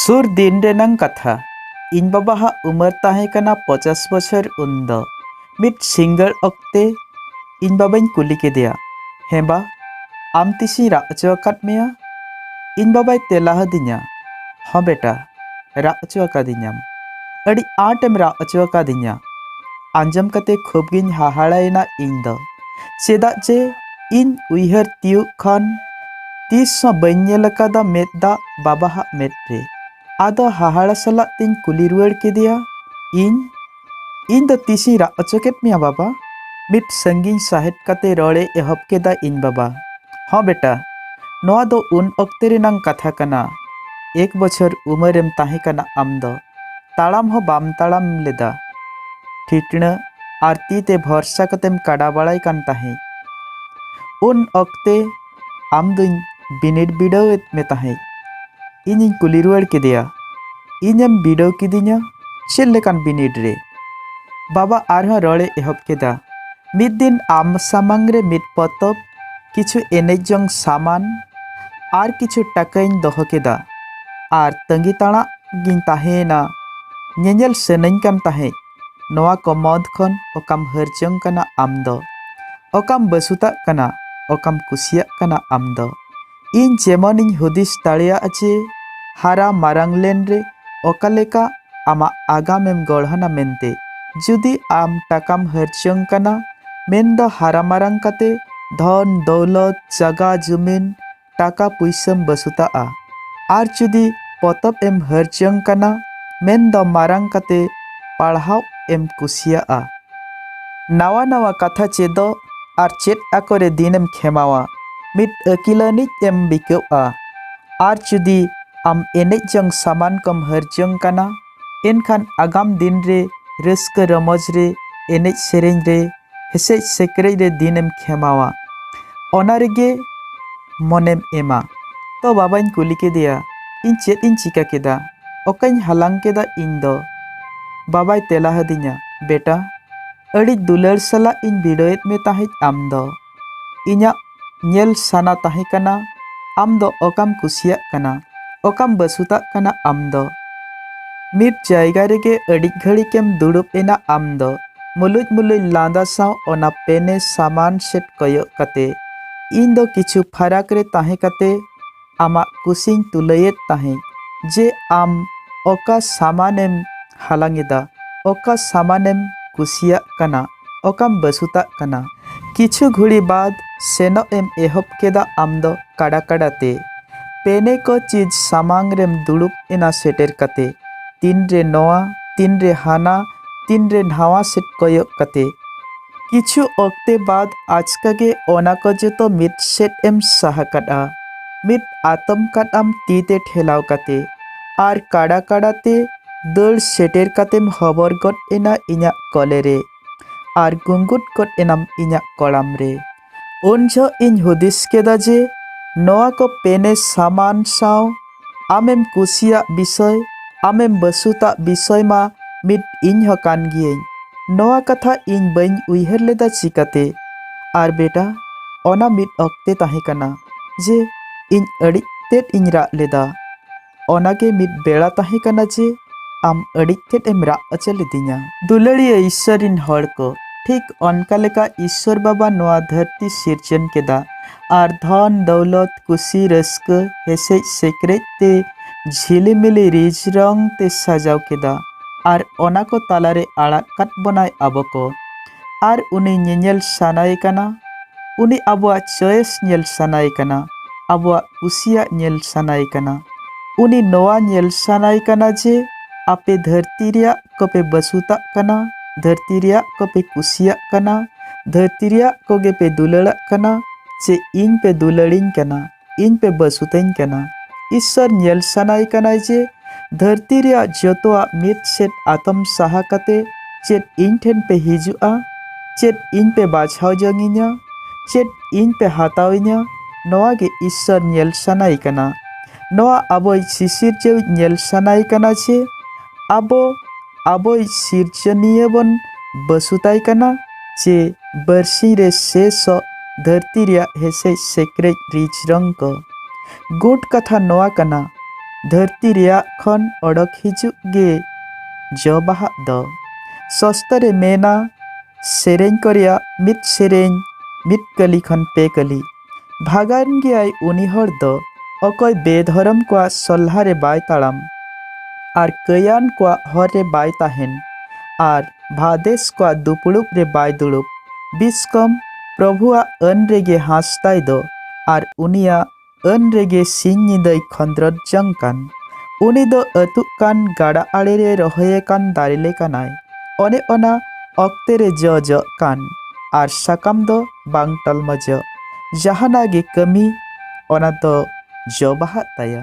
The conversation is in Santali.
ᱥᱩᱨ ᱫᱤᱱ ᱨᱮᱱᱟᱝ ᱠᱟᱛᱷᱟ ᱤᱧ ᱵᱟᱵᱟ ᱦᱟᱜ ᱩᱢᱟᱹᱨ ᱛᱟᱦᱮᱸ ᱠᱟᱱᱟ ᱯᱚᱪᱟᱥ ᱵᱚᱪᱷᱚᱨ ᱩᱱ ᱫᱚ ᱢᱤᱫ ᱥᱤᱸᱜᱟᱹᱲ ᱚᱠᱛᱮ ᱤᱧ ᱵᱟᱵᱟᱧ ᱠᱩᱞᱤ ᱠᱮᱫᱮᱭᱟ ᱦᱮᱸ ᱵᱟ ᱟᱢ ᱛᱤᱥᱤᱧ ᱨᱟᱜ ᱦᱚᱪᱚ ᱟᱠᱟᱫ ᱢᱮᱭᱟ ᱤᱧ ᱵᱟᱵᱟᱭ ᱛᱮᱞᱟ ᱟᱹᱫᱤᱧᱟ ᱦᱚᱸ ᱵᱮᱴᱟ ᱨᱟᱜ ᱦᱚᱪᱚ ᱟᱠᱟᱫᱤᱧᱟᱢ ᱟᱹᱰᱤ ᱟᱸᱴᱮᱢ ᱨᱟᱜ ᱦᱚᱪᱚ ᱟᱠᱟᱫᱤᱧᱟ ᱟᱸᱡᱚᱢ ᱠᱟᱛᱮ ᱠᱷᱩᱵᱽ ᱜᱤᱧ ᱦᱟᱦᱟᱲᱟᱭᱮᱱᱟ ᱤᱧ ᱫᱚ ᱪᱮᱫᱟᱜ ᱡᱮ ᱤᱧ ᱩᱭᱦᱟᱹᱨ ᱛᱤᱭᱩᱜ ᱠᱷᱚᱱ ᱛᱤᱥ ᱦᱚᱸ ᱵᱟᱹᱧ ᱧᱮᱞ ᱟᱠᱟᱫᱟ ᱢᱮᱫ ᱫᱟᱜ ᱵᱟᱵᱟ ᱦᱟᱜ ᱢᱮᱫ ᱨᱮ ᱟᱫᱚ ᱦᱟᱦᱟᱲᱟ ᱥᱟᱞᱟᱜ ᱛᱤᱧ ᱠᱩᱞᱤ ᱨᱩᱣᱟᱹᱲ ᱠᱮᱫᱮᱭᱟ ᱤᱧ ᱤᱧ ᱫᱚ ᱛᱤᱥ ᱤᱧ ᱨᱟᱜ ᱚᱪᱚ ᱠᱮᱫ ᱢᱮᱭᱟ ᱵᱟᱵᱟ ᱢᱤᱫ ᱥᱟᱺᱜᱤᱧ ᱥᱟᱦᱮᱫ ᱠᱟᱛᱮ ᱨᱚᱲᱮ ᱮᱦᱚᱵ ᱠᱮᱫᱟ ᱤᱧ ᱵᱟᱵᱟ ᱦᱚᱸ ᱵᱮᱴᱟ ᱱᱚᱣᱟ ᱫᱚ ᱩᱱ ᱚᱠᱛᱮ ᱨᱮᱱᱟᱝ ᱠᱟᱛᱷᱟ ᱠᱟᱱᱟ ᱮᱠ ᱵᱚᱪᱷᱚᱨ ᱩᱢᱟᱹᱨᱮᱢ ᱛᱟᱦᱮᱸ ᱠᱟᱱᱟ ᱟᱢ ᱫᱚ ᱛᱟᱲᱟᱢ ᱦᱚᱸ ᱵᱟᱢ ᱛᱟᱲᱟᱢ ᱞᱮᱫᱟ᱾ ᱴᱷᱤᱴᱬᱟᱹ ᱟᱨ ᱛᱤ ᱛᱮ ᱵᱷᱚᱨᱥᱟ ᱠᱟᱛᱮᱢ ᱠᱟᱰᱟ ᱵᱟᱲᱟᱭ ᱠᱟᱱ ᱛᱟᱦᱮᱸᱡ᱾ ᱩᱱ ᱚᱠᱛᱮ ᱟᱢ ᱫᱩᱧ ᱵᱤᱱᱤᱰ ᱵᱤᱰᱟᱹᱣ ᱮᱫ ᱢᱮ ᱛᱟᱦᱮᱸᱡ᱾ ᱤᱧᱤᱧ ᱠᱩᱞᱤ ᱨᱩᱣᱟᱹᱲ ᱠᱮᱫᱮᱭᱟ, ᱤᱧ ᱮᱢ ᱵᱤᱰᱟᱹᱣ ᱠᱤᱫᱤᱧᱟ ᱪᱮᱫ ᱞᱮᱠᱟᱱ ᱵᱤᱱᱤᱰ ᱨᱮ? ᱵᱟᱵᱟ ᱟᱨᱦᱚᱸ ᱨᱚᱲ ᱮ ᱮᱦᱚᱵ ᱠᱮᱫᱟ, ᱢᱤᱫ ᱫᱤᱱ ᱟᱢ ᱥᱟᱢᱟᱝ ᱨᱮ ᱢᱤᱫ ᱯᱚᱛᱚᱵ ᱠᱤᱪᱷᱩ ᱮᱱᱮᱡ ᱡᱚᱝ ᱥᱟᱢᱟᱱ ᱟᱨ ᱠᱤᱪᱷᱩ ᱴᱟᱠᱟᱧ ᱫᱚᱦᱚ ᱠᱮᱫᱟ ᱟᱨ ᱛᱟᱺᱜᱤ ᱛᱟᱲᱟᱜ ᱜᱤᱧ ᱛᱟᱦᱮᱸᱭᱮᱱᱟ ᱧᱮᱧᱮᱞ ᱥᱟᱹᱱᱟᱹᱧ ᱠᱟᱱ ᱛᱟᱦᱮᱸᱫ ᱱᱚᱣᱟ ᱠᱚ ᱢᱚᱫᱽ ᱠᱷᱚᱱ ᱚᱠᱟᱢ ᱦᱟᱹᱨ ᱡᱚᱝ ᱠᱟᱱᱟ ᱟᱢ ᱫᱚ ᱚᱠᱟᱢ ᱵᱟᱹᱥᱩᱛᱟᱜ ᱠᱟᱱᱟ ᱚᱠᱟᱢ ᱠᱩᱥᱤᱭᱟᱜ ᱠᱟᱱᱟ ᱟᱢ ᱫᱚ ᱤᱧ ᱡᱮᱢᱚᱱᱤᱧ ᱦᱩᱫᱤᱥ ᱫᱟᱲᱮᱭᱟᱜ ᱡᱮ ᱦᱟᱨᱟ ᱢᱟᱨᱟᱝ ᱞᱮᱱ ᱨᱮ ᱚᱠᱟ ᱞᱮᱠᱟ ᱟᱢᱟᱜ ᱟᱜᱟᱢᱮᱢ ᱜᱚᱲᱦᱚᱱᱟ ᱢᱮᱱᱛᱮ ᱡᱩᱫᱤ ᱟᱢ ᱴᱟᱠᱟᱢ ᱦᱟᱹᱨᱡᱚᱝ ᱠᱟᱱᱟ ᱢᱮᱱᱫᱚ ᱦᱟᱨᱟ ᱢᱟᱨᱟᱝ ᱠᱟᱛᱮ ᱫᱷᱚᱱ ᱫᱚᱣᱞᱚᱛ ᱡᱟᱜᱟ ᱡᱩᱢᱤᱱ ᱴᱟᱠᱟ ᱯᱩᱭᱥᱟᱹᱢ ᱵᱟᱹᱥᱩᱛᱟᱜᱼᱟ ᱟᱨ ᱡᱩᱫᱤ ᱯᱚᱛᱚᱵ ᱮᱢ ᱦᱟᱹᱨᱡᱚᱝ ᱠᱟᱱᱟ ᱢᱮᱱᱫᱚ ᱢᱟᱨᱟᱝ ᱠᱟᱛᱮ ᱯᱟᱲᱦᱟᱣ ᱮᱢ ᱠᱩᱥᱤᱭᱟᱜᱼᱟ ᱱᱟᱣᱟ ᱱᱟᱣᱟ ᱠᱟᱛᱷᱟ ᱪᱮᱫᱚᱜ ᱟᱨ ᱪᱮᱫ ᱟᱠᱚᱨᱮ ᱫᱤᱱᱮᱢ ᱠᱷᱮᱢᱟᱣᱟ ᱢᱤᱫ ᱟᱹᱠᱤᱞᱟᱹᱱᱤᱡ ᱮᱢ ᱵᱤᱠᱟᱹᱜᱼᱟ ᱟᱨ ᱡᱩᱫᱤ ᱟᱢ ᱮᱱᱮᱡ ᱡᱚᱝ ᱥᱟᱢᱟᱱ ᱠᱚᱢ ᱦᱟᱹᱨ ᱡᱚᱝ ᱠᱟᱱᱟ ᱮᱱᱠᱷᱟᱱ ᱟᱜᱟᱢ ᱫᱤᱱ ᱨᱮ ᱨᱟᱹᱥᱠᱟᱹ ᱨᱚᱢᱚᱡᱽ ᱨᱮ ᱮᱱᱮᱡ ᱥᱮᱨᱮᱧ ᱨᱮ ᱦᱮᱥᱮᱡ ᱥᱮᱠᱨᱮᱡ ᱨᱮ ᱫᱤᱱᱮᱢ ᱠᱷᱮᱢᱟᱣᱟ ᱚᱱᱟ ᱨᱮᱜᱮ ᱢᱚᱱᱮᱢ ᱮᱢᱟ ᱛᱚ ᱵᱟᱵᱟᱧ ᱠᱩᱞᱤ ᱠᱮᱫᱮᱭᱟ ᱤᱧ ᱪᱮᱫ ᱤᱧ ᱪᱤᱠᱟ ᱠᱮᱫᱟ ᱚᱠᱟᱧ ᱦᱟᱞᱟᱝ ᱠᱮᱫᱟ ᱤᱧ ᱫᱚ ᱵᱟᱵᱟᱭ ᱛᱮᱞᱟ ᱟᱹᱫᱤᱧᱟ ᱵᱮᱴᱟ ᱟᱹᱰᱤ ᱫᱩᱞᱟᱹᱲ ᱥᱟᱞᱟᱜ ᱤᱧ ᱵᱤᱲᱟᱹᱣᱮᱫ ᱢᱮ ᱛᱟᱦᱮᱸᱫ ᱟᱢ ᱫᱚ ᱤᱧᱟᱹᱜ ᱧᱮᱞ ᱥᱟᱱᱟ ᱛᱟᱦᱮᱸ ᱠᱟᱱᱟ ᱟᱢ ᱫᱚ ᱚᱠᱟᱢ ᱠᱩᱥᱤᱭᱟᱜ ᱠᱟᱱᱟ ᱚᱠᱟᱢ ᱵᱟᱹᱥᱩᱛᱟᱜ ᱠᱟᱱᱟ ᱟᱢ ᱫᱚ ᱢᱤᱫ ᱡᱟᱭᱜᱟ ᱨᱮᱜᱮ ᱟᱹᱰᱤ ᱜᱷᱟᱹᱲᱤᱠᱮᱢ ᱫᱩᱲᱩᱵ ᱮᱱᱟ ᱟᱢ ᱫᱚ ᱢᱩᱞᱩᱡ ᱢᱩᱞᱩᱡ ᱞᱟᱸᱫᱟ ᱥᱟᱶ ᱚᱱᱟ ᱯᱮᱱᱮ ᱥᱟᱢᱟᱱ ᱥᱮᱫ ᱠᱚᱭᱚᱜ ᱠᱟᱛᱮ ᱤᱧ ᱫᱚ ᱠᱤᱪᱷᱩ ᱯᱷᱟᱨᱟᱠ ᱨᱮ ᱛᱟᱦᱮᱸ ᱠᱟᱛᱮ ᱟᱢᱟᱜ ᱠᱩᱥᱤᱧ ᱛᱩᱞᱟᱹᱭᱮᱫ ᱛᱟᱦᱮᱸᱫ ᱡᱮ ᱟᱢ ᱚᱠᱟ ᱥᱟᱢᱟᱱᱮᱢ ᱦᱟᱞᱟᱝ ᱮᱫᱟ, ᱚᱠᱟ ᱥᱟᱢᱟᱱᱮᱢ ᱠᱩᱥᱤᱭᱟᱜ ᱠᱟᱱᱟ, ᱚᱠᱟᱢ ᱵᱟᱹᱥᱩᱛᱟᱜ ᱠᱟᱱᱟ᱾ ᱠᱤᱪᱷᱩ ᱜᱷᱩᱲᱤ ᱵᱟᱫᱽ ᱥᱮᱱᱚᱜ ᱮᱢ ᱮᱦᱚᱵ ᱠᱮᱫᱟ ᱟᱢ ᱫᱚ ᱠᱟᱰᱟ ᱠᱟᱰᱟ ᱛᱮ᱾ ᱯᱮᱱᱮ ᱠᱚ ᱪᱤᱡᱽ ᱥᱟᱢᱟᱝ ᱨᱮᱢ ᱫᱩᱲᱩᱵ ᱮᱱᱟ ᱥᱮᱴᱮᱨ ᱠᱟᱛᱮ᱾ ᱛᱤᱱ ᱨᱮ ᱱᱚᱶᱟ, ᱛᱤᱱ ᱨᱮ ᱦᱟᱱᱟ, ᱛᱤᱱ ᱨᱮ ᱱᱷᱟᱶᱟ ᱥᱮᱫ ᱠᱚᱭᱚᱜ ᱠᱟᱛᱮ᱾ ᱠᱤᱪᱷᱩ ᱚᱠᱛᱮ ᱵᱟᱫᱽ ᱟᱪᱠᱟ ᱜᱮ ᱚᱱᱟ ᱠᱚ ᱡᱚᱛᱚ ᱢᱤᱫ ᱥᱮᱫ ᱮᱢ ᱥᱟᱦᱟ ᱠᱟᱫᱼᱟ᱾ ᱢᱤᱫ ᱟᱛᱚᱢ ᱠᱟᱴ ᱟᱢ ᱛᱤ ᱛᱮ ᱴᱷᱮᱞᱟᱣ ᱠᱟᱛᱮ᱾ ᱟᱨ ᱠᱟᱲᱟ ᱠᱟᱲᱟ ᱛᱮ ᱫᱟᱹᱲ ᱥᱮᱴᱮᱨ ᱠᱟᱛᱮᱢ ᱦᱚᱵᱚᱨ ᱜᱚᱫ ᱮᱱᱟ ᱤᱧᱟᱜ ᱠᱚᱞᱮ ᱨᱮ᱾ ᱟᱨ ᱜᱩᱸᱜᱩᱫ ᱜᱚᱫ ᱮᱱᱟᱢ ᱤᱧᱟᱜ ᱠᱚᱲᱟᱢ ᱨᱮ᱾ ᱩᱱ ᱡᱚᱦᱚᱜ ᱤᱧ ᱦᱩᱫᱤᱥ ᱠᱮᱫᱟ ᱡᱮ ᱱᱚᱣᱟ ᱠᱚ ᱯᱮᱱᱮ ᱥᱟᱢᱟᱱ ᱥᱟᱶ ᱟᱢᱮᱢ ᱠᱩᱥᱤᱭᱟᱜ ᱵᱤᱥᱚᱭ ᱟᱢᱮᱢ ᱵᱟᱹᱥᱩᱛᱟᱜ ᱵᱤᱥᱚᱭ ᱢᱟ ᱢᱤᱫ ᱤᱧ ᱦᱚᱸ ᱠᱟᱱ ᱜᱤᱭᱟᱹᱧ ᱱᱚᱣᱟ ᱠᱟᱛᱷᱟ ᱤᱧ ᱵᱟᱹᱧ ᱩᱭᱦᱟᱹᱨ ᱞᱮᱫᱟ ᱪᱤᱠᱟᱹᱛᱮ ᱟᱨ ᱵᱮᱴᱟ ᱚᱱᱟ ᱢᱤᱫ ᱚᱠᱛᱮ ᱛᱟᱦᱮᱸ ᱠᱟᱱᱟ ᱡᱮ ᱤᱧ ᱟᱹᱰᱤ ᱛᱮᱫ ᱤᱧ ᱨᱟᱜ ᱞᱮᱫᱟ ᱚᱱᱟᱜᱮ ᱢᱤᱫ ᱵᱮᱲᱟ ᱛᱟᱦᱮᱸ ᱠᱟᱱᱟ ᱡᱮ ᱟᱢ ᱟᱹᱰᱤ ᱛᱮᱫ ᱮᱢ ᱨᱟᱜ ᱦᱚᱪᱚ ᱞᱤᱫᱤᱧᱟ ᱫᱩᱞᱟᱹᱲᱤᱭᱟᱹ ᱤᱥᱥᱚᱨ ᱨᱤᱱ ᱦᱚᱲ ᱠᱚ ᱴᱷᱤᱠ ᱚᱱᱠᱟ ᱞᱮᱠᱟ ᱤᱥᱥᱚᱨ ᱵᱟᱵᱟ ᱱᱚᱣᱟ ᱫᱷᱟᱹᱨᱛᱤ ᱥᱤᱨᱡᱚᱱ ᱠᱮᱫᱟ ᱟᱨ ᱫᱷᱚᱱ ᱫᱚᱣᱞᱚᱛ ᱠᱩᱥᱤ ᱨᱟᱹᱥᱠᱟᱹ ᱦᱮᱥᱮᱡ ᱥᱮᱠᱨᱮᱡ ᱛᱮ ᱡᱷᱤᱞᱤᱢᱤᱞᱤ ᱨᱤᱡ ᱨᱚᱝ ᱛᱮ ᱥᱟᱡᱟᱣ ᱠᱮᱫᱟ ᱟᱨ ᱚᱱᱟ ᱠᱚ ᱛᱟᱞᱟᱨᱮ ᱟᱲᱟᱜ ᱠᱟᱫ ᱵᱚᱱᱟᱭ ᱟᱵᱚ ᱠᱚ ᱟᱨ ᱩᱱᱤ ᱧᱮᱧᱮᱞ ᱥᱟᱱᱟᱭᱮ ᱠᱟᱱᱟ ᱩᱱᱤ ᱟᱵᱚᱣᱟᱜ ᱪᱚᱭᱮᱥ ᱧᱮᱞ ᱥᱟᱱᱟᱭᱮ ᱠᱟᱱᱟ ᱟᱵᱚᱣᱟᱜ ᱠᱩᱥᱤᱭᱟᱜ ᱧᱮᱞ ᱥᱟᱱᱟᱭᱮ ᱠᱟᱱᱟ ᱩᱱᱤ ᱱᱚᱣᱟ ᱧᱮᱞ ᱥᱟᱱᱟᱭᱮ ᱠᱟᱱᱟ ᱡᱮ ᱟᱯᱮ ᱫᱷᱟᱹᱨᱛᱤ ᱨᱮᱭᱟᱜ ᱠᱚᱯᱮ ᱵᱟᱹᱥᱩᱛᱟᱜ ᱠᱟᱱᱟ ᱫᱷᱟᱹᱨᱛᱤ ᱨᱮᱭᱟᱜ ᱠᱚᱯᱮ ᱠᱩᱥᱤᱭᱟᱜ ᱠᱟᱱᱟ ᱫᱷᱟᱹᱨᱛᱤ ᱨᱮᱭᱟᱜ ᱠᱚᱜᱮ ᱯᱮ ᱫᱩᱞᱟᱹᱲᱟᱜ ᱠᱟᱱᱟ ᱪᱮ ᱤᱧ ᱯᱮ ᱫᱩᱞᱟᱹᱲᱤᱧ ᱠᱟᱱᱟ ᱤᱧ ᱯᱮ ᱵᱟᱹᱥᱩᱛᱟᱹᱧ ᱠᱟᱱᱟ ᱤᱥᱥᱚᱨ ᱧᱮᱞ ᱥᱟᱱᱟᱭ ᱠᱟᱱᱟᱭ ᱡᱮ ᱫᱷᱟᱹᱨᱛᱤ ᱨᱮᱭᱟᱜ ᱡᱚᱛᱚᱣᱟᱜ ᱢᱤᱫ ᱥᱮᱫ ᱟᱛᱚᱢ ᱥᱟᱦᱟ ᱠᱟᱛᱮ ᱪᱮᱫ ᱤᱧ ᱴᱷᱮᱱ ᱯᱮ ᱦᱤᱡᱩᱜᱼᱟ ᱪᱮᱫ ᱤᱧ ᱯᱮ ᱵᱟᱪᱷᱟᱣ ᱡᱚᱝᱤᱧᱟ ᱪᱮᱫ ᱤᱧ ᱯᱮ ᱦᱟᱛᱟᱣᱤᱧᱟ ᱱᱚᱣᱟ ᱜᱮ ᱤᱥᱥᱚᱨ ᱧᱮᱞ ᱥᱟᱱᱟᱭ ᱠᱟᱱᱟ ᱱᱚᱣᱟ ᱟᱵᱚᱭ ᱥᱤᱥᱤᱨᱡᱟᱹᱣᱤᱡ ᱧᱮᱞ ᱥᱟᱱᱟᱭ ᱠᱟᱱᱟ ᱡᱮ ᱟᱵᱚ ᱟᱵᱚᱭᱤᱡ ᱥᱤᱨᱡᱚᱱᱤᱭᱟᱹ ᱵᱚᱱ ᱵᱟᱹᱥᱩᱛᱟᱭ ᱠᱟᱱᱟ ᱪᱮ ᱵᱟᱹᱨᱥᱤᱧ ᱨᱮ ᱥᱮᱥᱚᱜ ᱫᱷᱟᱹᱨᱛᱤ ᱨᱮᱭᱟᱜ ᱦᱮᱥᱮᱡ ᱥᱮᱠᱨᱮᱡ ᱨᱤᱡ ᱨᱚᱝ ᱠᱚ ᱜᱩᱴ ᱠᱟᱛᱷᱟ ᱱᱚᱣᱟ ᱠᱟᱱᱟ ᱫᱷᱟᱹᱨᱛᱤ ᱨᱮᱭᱟᱜ ᱠᱷᱚᱱ ᱚᱰᱚᱠ ᱦᱤᱡᱩᱜ ᱜᱮ ᱡᱚ ᱵᱟᱦᱟᱜ ᱫᱚ ᱥᱚᱥᱛᱚ ᱨᱮ ᱢᱮᱱᱟ ᱥᱮᱨᱮᱧ ᱠᱚ ᱨᱮᱭᱟᱜ ᱢᱤᱫ ᱥᱮᱨᱮᱧ ᱢᱤᱫ ᱠᱟᱹᱞᱤ ᱠᱷᱚᱱ ᱯᱮ ᱠᱟᱹᱞᱤ ᱵᱷᱟᱜᱟᱱ ᱜᱮᱭᱟᱭ ᱩᱱᱤ ᱦᱚᱲ ᱫᱚ ᱚᱠᱚᱭ ᱵᱮᱫᱷᱚᱨᱚᱢ ᱠᱚᱣᱟᱜ ᱥᱚᱞᱦᱟ ᱨᱮ ᱵᱟᱭ ᱛᱟᱲᱟᱢ ᱟᱨ ᱠᱟᱹᱭᱟᱱ ᱠᱚᱣᱟᱜ ᱦᱚᱨ ᱨᱮ ᱵᱟᱭ ᱛᱟᱦᱮᱱ ᱟᱨ ᱵᱷᱟᱫᱮᱥ ᱠᱚᱣᱟᱜ ᱫᱩᱯᱲᱩᱵ ᱨᱮ ᱵᱟᱭ ᱫᱩᱲᱩᱵ ᱵᱤᱥᱠᱚᱢ ᱯᱨᱚᱵᱷᱩᱣᱟᱜ ᱟᱹᱱ ᱨᱮᱜᱮ ᱦᱟᱸᱥᱛᱟᱭ ᱫᱚ ᱟᱨ ᱩᱱᱤᱭᱟᱜ ᱟᱹᱱ ᱨᱮᱜᱮ ᱥᱤᱧ ᱧᱤᱫᱟᱹᱭ ᱠᱷᱚᱸᱫᱽᱨᱚᱫ ᱡᱚᱝ ᱠᱟᱱ ᱩᱱᱤ ᱫᱚ ᱟᱹᱛᱩᱜ ᱠᱟᱱ ᱜᱟᱰᱟ ᱟᱲᱮ ᱨᱮ ᱨᱚᱦᱚᱭ ᱟᱠᱟᱱ ᱫᱟᱨᱮ ᱞᱮᱠᱟᱱᱟᱭ ᱚᱱᱮ ᱚᱱᱟ ᱚᱠᱛᱮ ᱨᱮ ᱡᱚ ᱡᱚᱜ ᱠᱟᱱ ᱟᱨ ᱥᱟᱠᱟᱢ ᱫᱚ ᱵᱟᱝ ᱴᱟᱞᱢᱟ ᱡᱚ ᱡᱟᱦᱟᱱᱟᱜ ᱜᱮ ᱠᱟᱹᱢᱤ ᱚᱱᱟ ᱫᱚ ᱡᱚ ᱵᱟᱦᱟᱜ ᱛᱟᱭᱟ